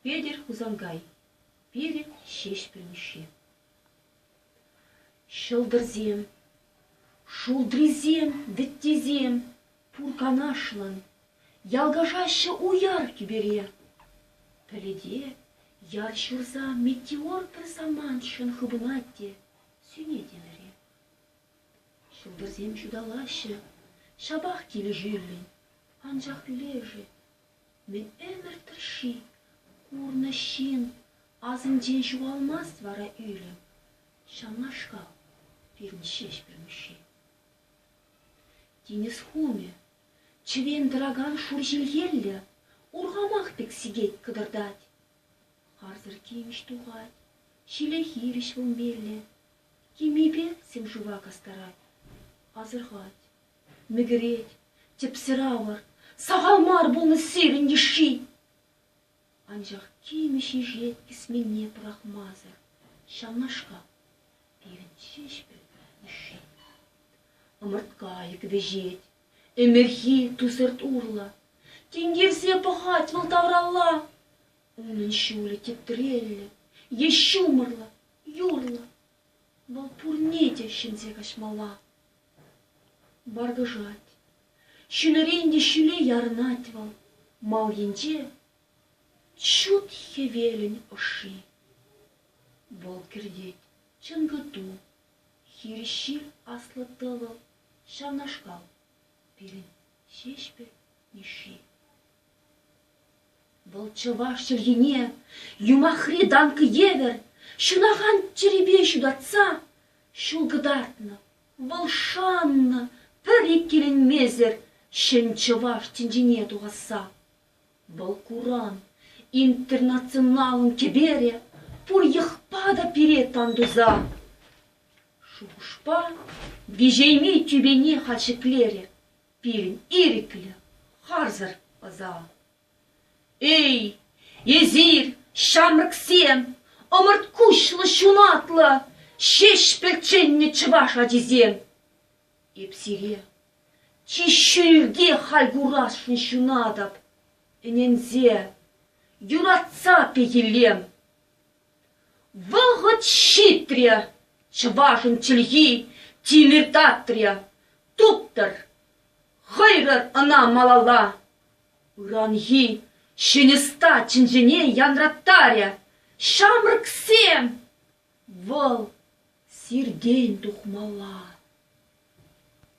Петӗр Хусанкай, пилӗк Ҫеҫпӗл Мишши. Ҫӑлтӑрсем, шултрисем, вӗттисем пур канашлӑн ялкашаҫҫӗ уяр тӳпере. Пӗлӗте яр ҫурса метеор пӗр самантшӑн хыпӑнать те сӳнет ӗмӗре. Шупашкарсем ҫуталаҫҫӗ, ҫапах килӗшӳллӗн, анчах лешӗ ме ӗмӗр тӑршши курнӑ ҫын асӗнчен ҫухалмасть вара ӳлӗм. Ҫавнашкал пирӗн Ҫеҫпӗл Мишши. Тинӗс хумӗ, чӗвен тӑракан шур ҫилхеллӗ, урхамах пек сикет кӑтӑртать. Харсӑр тимӗҫ тухать, ҫиле хирӗҫ вӑл меллӗ, Темипе сӗм-шыва кастарать, асӑрхать, мӗкӗрет, тӗпсӗр авӑр, сахал мар пулнӑ сирӗн йышши. Анчах темиҫе ҫеҫет кӗсменне пӑрахмасӑр ҫавнашкал пирӗн ҫеҫпӗл йышши. Ӑмӑрткайӑк вӗҫет, ӗмӗрхи тусӑрт урлӑ. Тинкерсе пӑхать вӑл тавралла. Унӑн ҫулӗ тӗптреллӗ е ҫумӑрлӑ, Юлнӑ. Вӑл пурне те ҫӗнсе каҫмалла. Баркӑшать. Ҫӗнӗрен те ҫӳле ярӑнать вӑл. Мал енче ҫут хӗвелӗн ӑшши. Вӑл кӗртет чӑн кӑту. Хирӗҫ ҫил аслӑ тӑвӑл ҫавнашкал. Пирӗн Ҫеҫпӗл Мишши. Вӑл чӑваш чӗлхине юмахри данка евӗр ҫӑнахан чӗрепе ҫутатса ҫул кӑтартнӑ. Вӑл шаннӑ пӗр иккӗленмесӗр ҫӗн чӑваш тӗнчине тухасса. Вӑл куран интернационалӑн кӗперӗ пур йӑхпа та пире тан туса. Шухӑшпа виҫейми тӳпене халь ҫӗклерӗ. Пирӗн ирӗклӗ, харсӑр ӑса. Эй, эсир, ҫамрӑксем, ӑмӑрт куҫлӑ, ҫунатлӑ, ҫеҫпӗл чӗннӗ чӑваш ачисем! Эп сире чи ҫӳлте халь курасшӑн ҫунатӑп, ӗненсе, юратса пехиллем. Вӑхӑт ҫитрӗ, чӑвашӑн чӗлхи тимӗр татрӗ, туптӑр, хӑйрӑр ӑна малалла. Ыранхи ҫӗнӗста чӗнчене янраттарӗ ҫамрӑксем. Вӑл сиртен тухмалла.